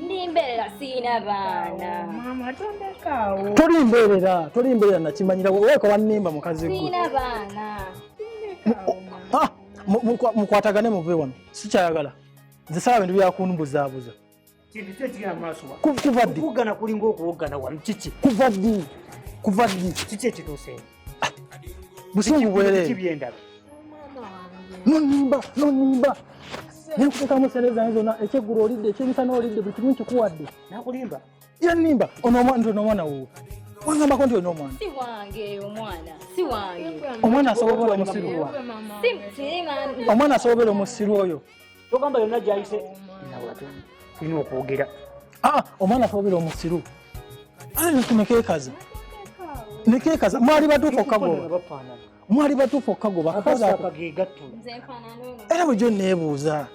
ndimbeerera sirina baana maama tondekaawo toli mbeerera toli mbeerera nakimanyira weeka wannimba mukazi gwe sirina baana ah, mukwatagane muve wano sikyayagala nze saba bintu byakunbuzaabuza kuva ddi kuva ddi kuva ddi kiki ekituuseewo busungu bwerere nonimba nonimba nekuteekamu sente zange zonna ekyeggulo olidde ekyemisana olidde buli kimu nkikuwadde nakulimba yanimba ono omwana nti onomwana wowo wangambako nti olina omwana omwana asobola omusiru omwana asobola omusiru oyo togamba yonna gyayise tulina okwogera ah, omwana twogera omusiru nekumekekaza nekekaza mwali batuufu okagoba mwali batuufu okagoba era bwejo nebuuza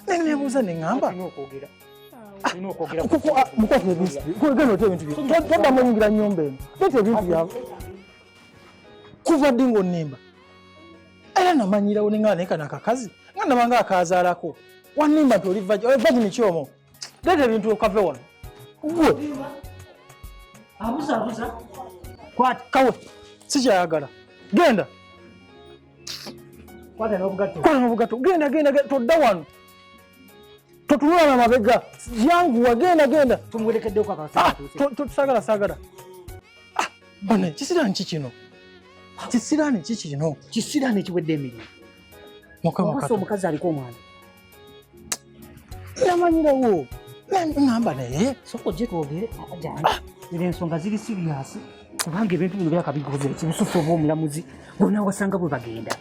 nebuuza neŋamba mukwata ebintukwegenda ota ebintu toddamu oyingira nyumba eno leta ebintu byabo kuva ddi ngaonimba era namanyirawo nengana naye kano akakazi nga nabanga akazaalako wanimba nti oli vagini kyomo leeta ebintu okave wano gwe abuzabuza kwata kawe sikyayagala genda kwata nobugatto genda genda todda wano totunula na mabega yanguwa genda genda ah, tusagala sagala bana kisirani ki kino kisirani ki kino kisirani ekiwedde emirimu mukamasa omukazi aliko omwana namanyirawo namba naye soka ojje twogere ah! era ensonga ziri siriyasi kubanga ebintu bino byakabigobera kibusufu oba omulamuzi bona wasanga bwe bagenda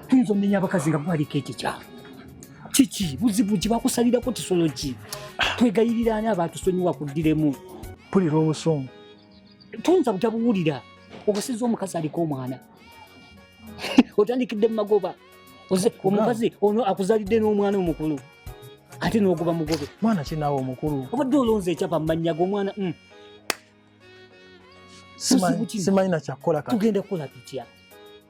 tuyinza omenya abakazi nga gwaliko ekyo kyawe kiki buzibu ki bakusalirako kisolo ki twegayiriraani abatusonyiwa kuddiremu pulira obusungu tuyinza butabuwulira obusizza omukazi aliko omwana otandikidde mumagoba omukazi ono akuzalidde n'omwana omukulu ate n'ogoba mugobe mwana kinawe omukulu obadde olonze ekyapa mumanya gomwana mm. simanyi nakyakukola tugenda kukola tutya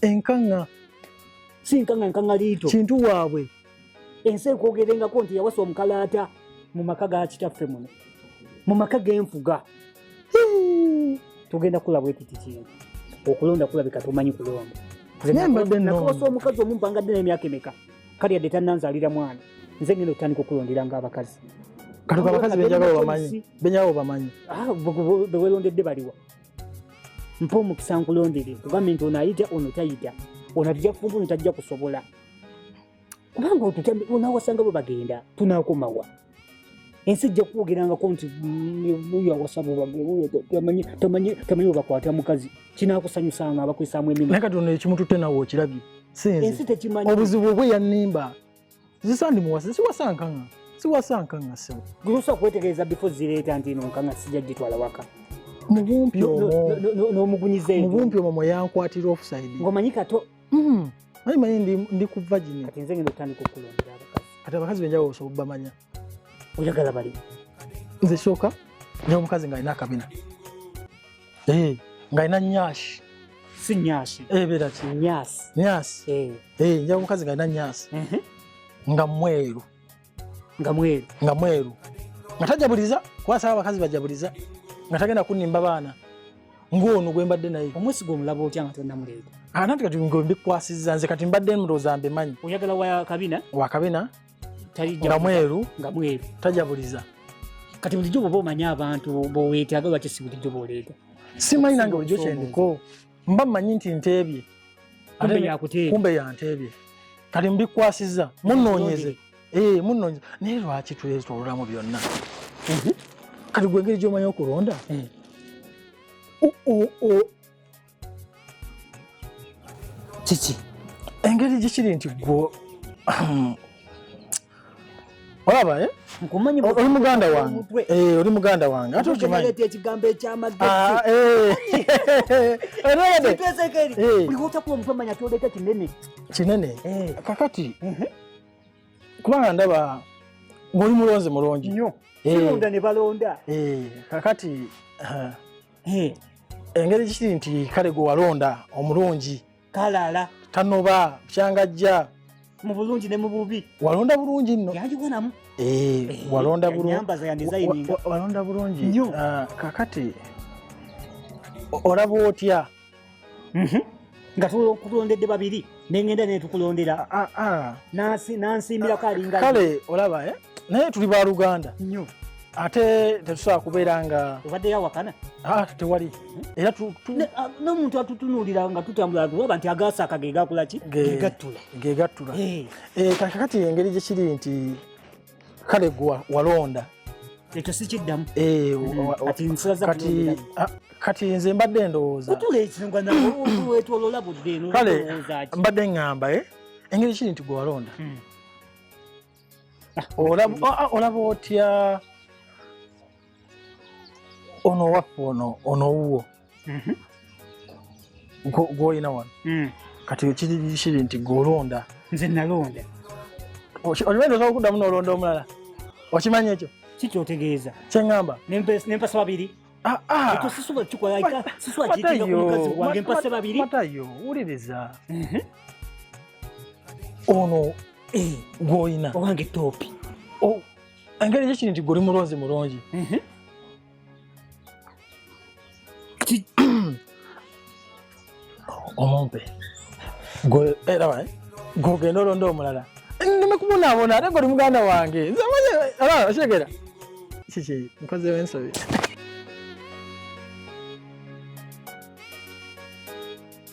enkanga si nkanga nkanga liito kintu waabwe ensi ekwogerengako nti yawasa omukalaata mu maka ga kitaffe muno mu maka genfuga tugenda kula bwekiti kintu okulonda kulabika tumanyi kulonda nembaddenakawasa omukazi omu mpanga ddena emyaka emeka kali yadde tananzalira mwana nze ngenda otandika okulondera nga abakazi katuka abakazi benjagala obamanyi benjagala obamanyi ah, bewelondedde baliwa mpa omukisa nkulondere kugambye nti ono ayita ono tayita ono atija kufunza ono tajja kusobola kubanga otutambi onawasanga bwe bagenda tunakomawa ensi ejja kukwogerangako nti oyo awasaba tamanyi webakwata mukazi kinakusanyusanga abakwesaamu emimakatonda ekimututte nawe okirabye ensi tekimanyi obuzibu obwe yannimba zisandi muwasa siwasa nkanga siwasa nkanga sebo gusa kwetegereza bifo zireeta nti ino nkanga sija gitwala waka mubumpi omo n'omugunyiza no, no, mubumpi omo mweyankwatira offside ngomanyi kato mm. manyi manyi ndi, ndi ku vagin kati nze ngenda otandika okulondera abakazi kati abakazi benjawulo osobola obamanya oyagala bali nze sooka nyomukazi nga alina akabina Eh, nga ina nyashi. Si nyashi. Eh, bera ki. Nyasi. Nyasi. Eh. Eh, nja mukazi nga ina nyasi. Mhm. Mm nga mweru. Nga mweru. Nga mweru. Nga tajabuliza, kwa sababu abakazi bajabuliza. Nga tagenda kunimba bana. Ngono gwe mbadde naye. Omwesi gwo mulabo otya nga tonna mulego. Ananti ah, kati ngombi kwasiza nze kati mbadde mroza mbe manyi. Oyagala wa kabina? Wa kabina. nga mweru nga mweru tajabuliza kati bulijjo bwoba omanya abantu boweetaaga lwaki si bulijjo bwoleeta simanyi nange bulijjo kyendiko mba mmanyi nti nteebye kumbe yanteebye kati mbikwasiza munoonyeze ee eh, munoonyeze naye lwaki twetololamu byonna mhm. kati gwengeri gyomanyi okulonda eh. kiki engeri gyekiri nti gwo olaba eh? oli muganda wange eh, oli muganda wange ate okimanyiolabye eh. kinene kakati mhm. kubanga ndaba ng'oli mulonzi mulungi kakati engeri kiri nti kale gwe walonda omulungi kalala tanoba kyangajja mu bulungi ne mu bubi walonda bulungi nno yagiwanamu eh, eh, walonda bulungi walonda bulungi ah, kakati olaba otya Mhm. nga tukulondedde babiri nengenda netukulondera ah, ah, ah. nansimbirako alinga kale olaba eh? naye tuli ba luganda nyo ate tetusobola kubeera nga obadde yawakana tewali era n'omuntu atutunuulira nga tutambula tulaba nti agasaaka ge gakola ki gegattula gegattula eh. Eh, kakati engeri gye kiri nti kale gwe walonda ekyo sikiddamu eh, mm, ah, kati nze mbadde ndowooza kale mbadde ŋŋamba eh? engeri kiri nti gwe walonda hmm. ah, olaba ah, otya ono waffe ono ono wuwo mhm. gwolina wano mm. kati kiri nti gwolonda nze nalonda oliwendoza okuddamu nolonda omulala okimanyi ekyo kikyotegeeza kyeŋamba nempasa babiri Ah, ah. matayo wuliriza mhm. ono eh, gwoyina owange topi oh. engeri gye kiri nti guli mulonzi mulungi mhm. omumpe gwogenda eh, eh, olonda omulala ndimekubonabona ate goli muganda wange okitegera eh, kiki nkozewo ensobi